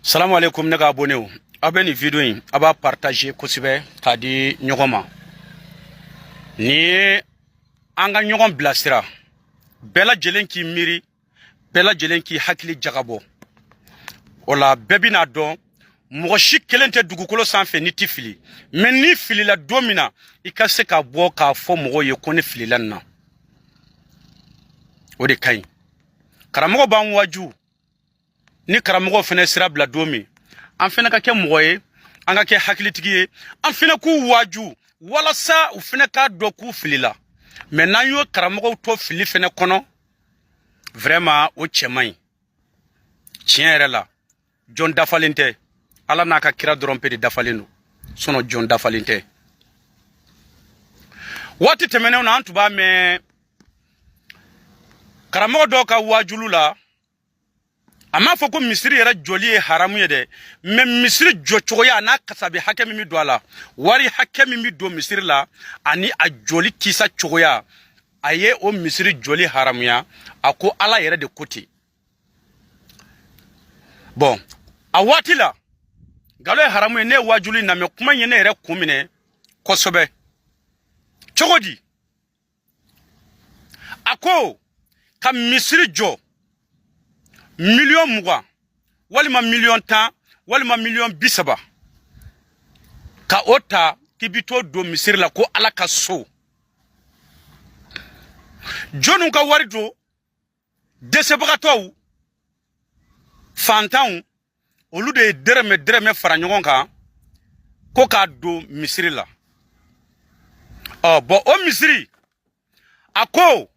salamu aleykum ne ka abonew aw bɛ nin video in a b'a partage kosɛbɛ k'a di ɲɔgɔn ma nin ye an ka ɲɔgɔn bilasira bɛɛ lajɛlen k'i miiri bɛɛ lajɛlen k'i hakili jagabɔ o la bɛɛ bɛna dɔn mɔgɔ si kelen tɛ dugukolo sanfɛ n'i tɛ fili mɛ n'i filila don min na i ka se ka bɔ k'a fɔ mɔgɔw ye ko ne filila nin na o de ka ɲi karamɔgɔ b'an waju ni karamɔgɔw fɛnɛ sira bila don min an fɛnɛ ka kɛ mɔgɔ ye an ka kɛ hakilitigi ye an fɛnɛ k'u waaju walasa u fɛnɛ k'a dɔn k'u filila mɛ n'an y'o karamɔgɔw to fili fɛnɛ kɔnɔ vraiment o cɛ man ɲi tiɲɛ yɛrɛ la jɔn dafalen tɛ ala n'a ka kira dɔrɔn pe de dafalen don sinɔ jɔn dafalen tɛ waati tɛmɛnenw na an tun b'a mɛn karamɔgɔ dɔw ka waajulu la a m'a fɔ ko misiri yɛrɛ jɔli ye haramu ye dɛ mɛ misiri jɔcogoya n'a kasabi hakɛ min bɛ don a la wari hakɛ min bɛ don misiri la ani a jɔli kisa cogoya a ye o misiri jɔli haramuya a ko ala yɛrɛ de ko ten bɔn a waati la nkalon ye haramu ye ne ye waajulu in lamɛn kuma in ye ne yɛrɛ kun minɛ kosɛbɛ cogo di a ko ka misiri jɔ miliyɔn mugan walima miliyɔn tan walima miliyɔn bi saba ka o ta k'i bi t'o don misiri la ko ala ka so jɔnniw ka wari don dɛsɛbagatɔw fantanw olu de ye dɛrɛmɛ dɛrɛmɛ fara ɲɔgɔn kan ko k'a don misiri la ɔ bɔn o misiri a ko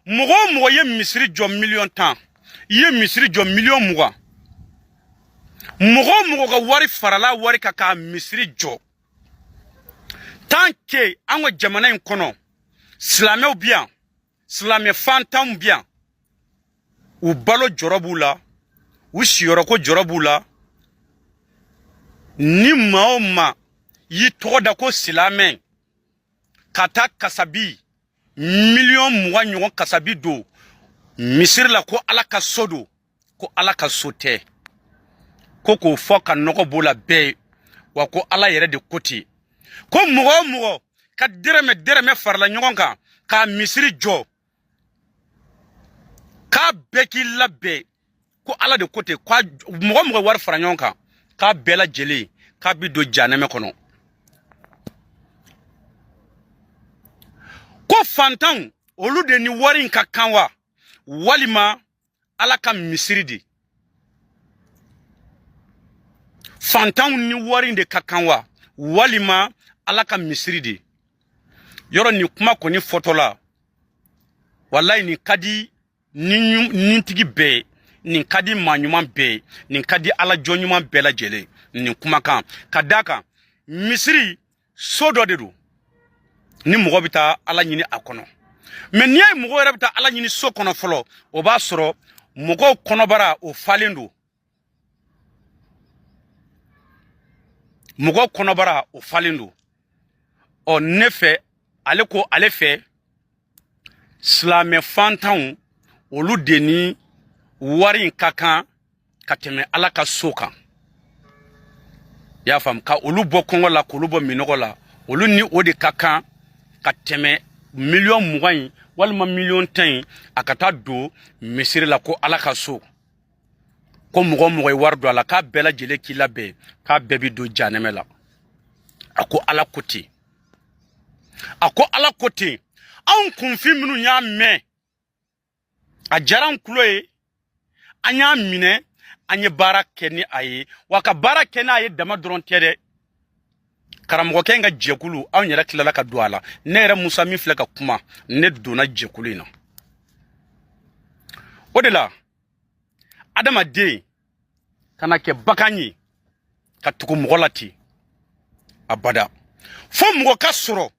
mɔgɔ o mɔgɔ ye misiri jɔ miliyɔn tan i ye misiri jɔ miliyɔn mugan mɔgɔ o mɔgɔ ka wari farala wari kan ka misiri jɔ tan ke an ka jamana in kɔnɔ silamɛw bi yan silamɛ fantanw bi yan u balo jɔrɔ b'u la u siyɔrɔko jɔrɔ b'u la ni maa o maa y'i tɔgɔ da ko silamɛ ka taa kasabi miliyɔn mugan ɲɔgɔn kasabi don misiri la ko ala ka so don ko ala ka so tɛ ko k'o fɔ ka nɔgɔ b'o la bɛɛ ye wa ko ala yɛrɛ de ko ten ko mɔgɔ o mɔgɔ ka dɛrɛmɛ dɛrɛmɛ farala ɲɔgɔn kan ka misiri jɔ k'a bɛɛ k'i labɛn ko ala de ko ten ko mɔgɔ o mɔgɔ wari fara ɲɔgɔn kan k'a bɛɛ lajɛlen k'a bi don janɛmɛ kɔnɔ ko fantanw olu de ni wari in ka kan wa walima ala ka misiri de fantanw ni wari in de ka kan wa walima ala ka misiri de yɔrɔ nin kuma kɔni fɔtɔla walayi nin ka di nintigi bɛɛ ye nin ka di maa ɲuman bɛɛ ye nin ka di ala jɔn ɲuman bɛɛ lajɛlen nin kumakan ka d'a kan misiri so dɔ de don ni mɔgɔ bɛ taa ala ɲini a kɔnɔ mɛ n'i y'a ye mɔgɔ yɛrɛ bɛ taa ala ɲini so kɔnɔ fɔlɔ o b'a sɔrɔ mɔgɔw kɔnɔbara o falen don mɔgɔw kɔnɔbara o falen don ɔ ne fɛ ale ko ale fɛ silamɛ fantanw olu de ni wari in ka kan ka tɛmɛ ala ka so kan i y'a faamu ka olu bɔ kɔngɔ la k'olu bɔ minnɔgɔ la olu ni o de ka kan ka tɛmɛ miliyɔn mugan in walima miliyɔn tan in a ka taa don misiri la ko ala ka so ko mɔgɔ o mɔgɔ ye wari don a la k'a bɛɛ lajɛlen k'i labɛn k'a bɛɛ bi don janɛmɛ la a ko ala ko ten a ko ala ko ten anw kunfin minnu y'a mɛn a diyara an kulo ye an y'a minɛ an ye baara kɛ ni a ye wa ka baara kɛ n'a ye dama dɔrɔn tɛ dɛ karamɔgɔkɛ in ka jɛkulu anw yɛrɛ tilala ka don a la ne yɛrɛ musa min filɛ ka kuma ne donna jɛkulu in na o de la adamaden kana kɛ bagan ye ka tugu mɔgɔ la ten abada fo mɔgɔ ka sɔrɔ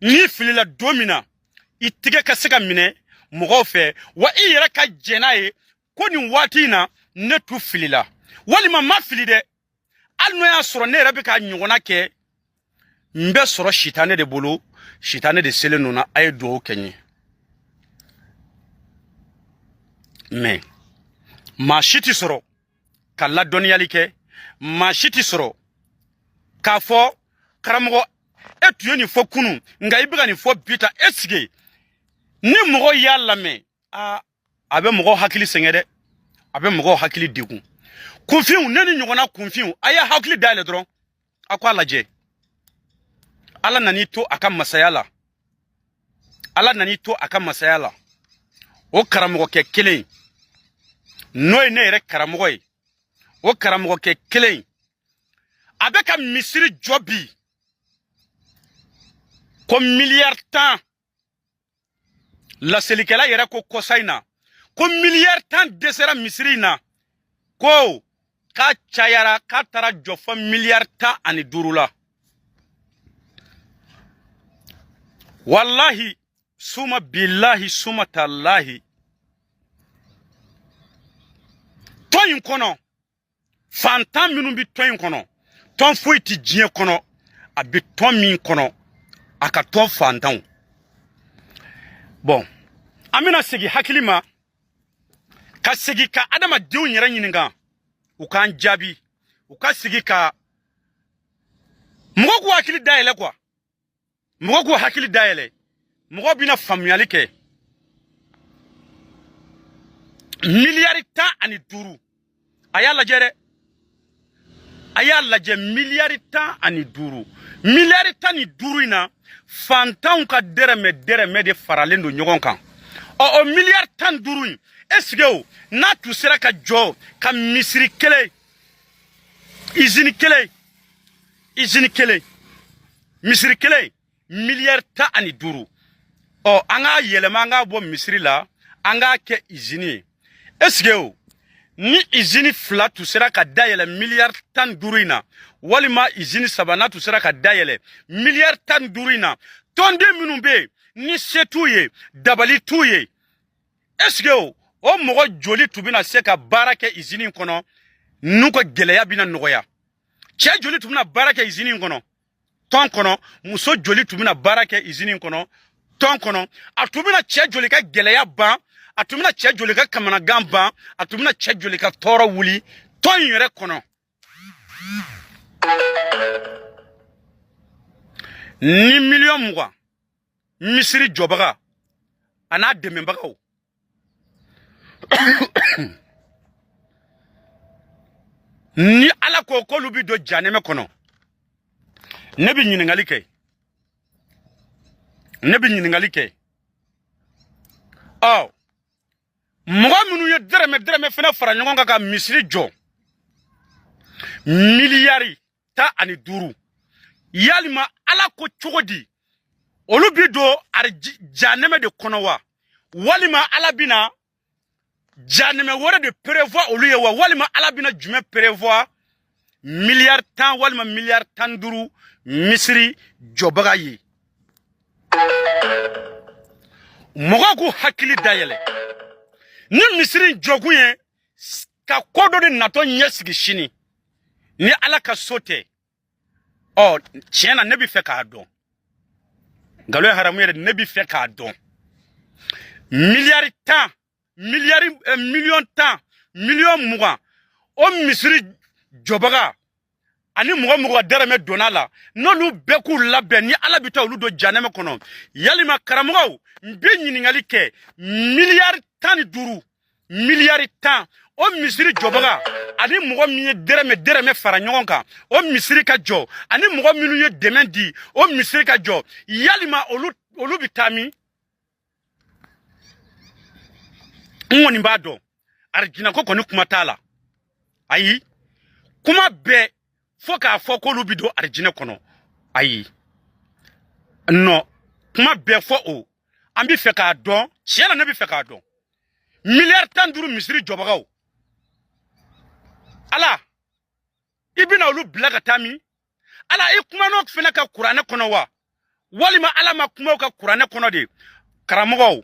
n'i filila don min na i tɛgɛ ka se ka minɛ mɔgɔw fɛ wa i yɛrɛ ka jɛn n'a ye ko nin waati in na ne tun filila walima n ma fili dɛ hali n'o y'a sɔrɔ ne yɛrɛ bɛ ka ɲɔgɔnna kɛ n bɛ sɔrɔ sitanɛ de bolo sitanɛ de selen don n na a ye dugawu kɛ n ye mɛ maa si tɛ sɔrɔ ka ladɔnniyali kɛ maa si tɛ sɔrɔ k'a fɔ karamɔgɔ e tun ye nin fɔ kunun nka i bɛ ka nin fɔ bi taa i sigi ni mɔgɔ y'a lamɛn aa a bɛ mɔgɔw hakili sɛgɛn dɛ a bɛ mɔgɔw hakili degun kunfinw ne nin ɲɔgɔnna kunfinw a y'a hakili dayɛlɛ dɔrɔn a ko a lajɛ ala nan'i to a ka masaya la ala nan'i to a ka masaya la o karamɔgɔkɛ kelen n'o ye ne yɛrɛ karamɔgɔ ye o karamɔgɔkɛ kelen a bɛ ka misiri jɔ bi ko miliyari tan laselikɛla yɛrɛ ko kɔsa in na ko miliyari tan dɛsɛra misiri in na ko k'a cayara k'a taara jɔ fɔ miliyari tan ani duuru la walahi suma bilahi suma talahi tɔn in kɔnɔ fantan minnu bɛ tɔn in kɔnɔ tɔn foyi tɛ diɲɛ kɔnɔ a bɛ tɔn min kɔnɔ a ka tɔn fantanw bon an bɛna segin hakili ma ka segin ka adamadenw yɛrɛ ɲininka u k'an jaabi u ka segin ka mɔgɔ k'u hakili dayɛlɛ kuwa mɔgɔ k'u hakili dayɛlɛ mɔgɔ bɛna faamuyali kɛ miliyari tan ani duuru a y'a lajɛ dɛ a y'a lajɛ miliyari tan ani duuru miliyari tan ni duuru in na fantanw ka dɛrɛmɛ dɛrɛmɛ de faralen don ɲɔgɔn kan ɔ o miliyari tan ni duuru in esike o n'a tun sera ka jɔ ka misiri kelen izini kelen izini kelen misiri kelen miliyari tan ani duuru ɔ an k'a yɛlɛma an k'a bɔ misiri la an k'a kɛ izini ye esike o ni izini fila tun sera ka dayɛlɛ miliyari tan ni duuru in na walima izini saba n'a tun sera ka dayɛlɛ miliyari tan ni duuru in na tɔnden minnu bɛ yen ni se t'u ye dabali t'u ye esike o mɔgɔ joli tun bɛna se ka baara kɛ izini kɔnɔ n'u ka gɛlɛya bɛna nɔgɔya cɛ joli tun bɛna baara kɛ izini in kɔnɔ tɔn kɔnɔ muso joli tun bɛna baara kɛ izini in kɔnɔ tɔn kɔnɔ a tun bɛna cɛ joli ka gɛlɛya ban a tun bɛna cɛ joli ka kamanagan ban a tun bɛna cɛ joli ka tɔɔrɔ wuli tɔn in yɛrɛ kɔnɔ ni miliyɔn mugan misiri jɔbaga a n'a dɛmɛbagaw ni ala ko k'olu bɛ don janɛmɛ kɔnɔ ne bɛ ɲi ne bɛ ɲininkali kɛ ɔ mɔgɔ minnu ye dɛrɛmɛ dɛrɛmɛ fana fara ɲɔgɔn kan ka misiri jɔ miliyari tan ani duuru yalima ala ko cogo di olu bi don janɛmɛ de kɔnɔ wa walima ala bina janɛmɛ wɛrɛ de prévoit olu ye wa walima ala bina jumɛn prévoit miliyari tan walima miliyari tan duuru misiri jɔbaga ye mɔgɔw k'u hakili dayɛlɛ ni misiri jɔkun ye ka ko dɔ de natɔ ɲɛsigi sini ni ala ka so tɛ ɔ tiɲɛ na ne bɛ fɛ k'a dɔn nkalon ye haramu ye ne bɛ fɛ k'a dɔn miliyari tan miliyari eh, miliyɔn tan miliyɔn mugan o misiri jɔbaga ani mɔgɔ min ka dɛrɛmɛ donna a la n'olu bɛɛ k'u labɛn ni ala bɛ taa olu don janɛmɛ kɔnɔ yalima karamɔgɔw n bɛ ɲininkali kɛ miliyari tan ni duuru miliyari tan o misiri jɔbaga ani mɔgɔ min ye dɛrɛmɛ dɛrɛmɛ fara ɲɔgɔn kan o misiri ka jɔ ani mɔgɔ minnu ye dɛmɛ di o misiri ka jɔ yalima olu bɛ taa min n kɔni b'a dɔn arijinɛ ko kɔni kuma t'a la ayi kuma bɛɛ fɔ k'a fɔ k'olu bi don arijinɛ kɔnɔ ayi non kuma bɛɛ fɔ o an bi fɛ k'a dɔn tiɲɛ na ne bi fɛ k'a dɔn miliyari tan duuru misiri jɔbagaw ala i bɛna olu bila ka taa min ala i kumana o fana kan kuranɛ kɔnɔ wa walima ala ma kuma o kan kuranɛ kɔnɔ de karamɔgɔw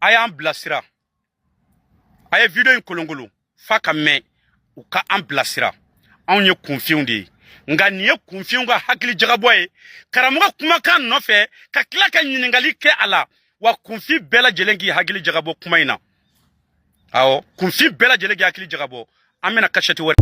a y'an bilasira a ye video in kolonkolon f'a ka mɛn u ka an bilasira anw ye kunfinw de ye nka nin ye kunfinw ka hakili jagabɔ ye karamɔgɔ kumakan nɔfɛ ka tila ka ɲininkali kɛ a la wa kunfin bɛɛ lajɛlen k'i hakili jagabɔ kuma in na awɔ kunfin bɛɛ lajɛlen k'i hakili jagabɔ an bɛna kasɛti wɛrɛ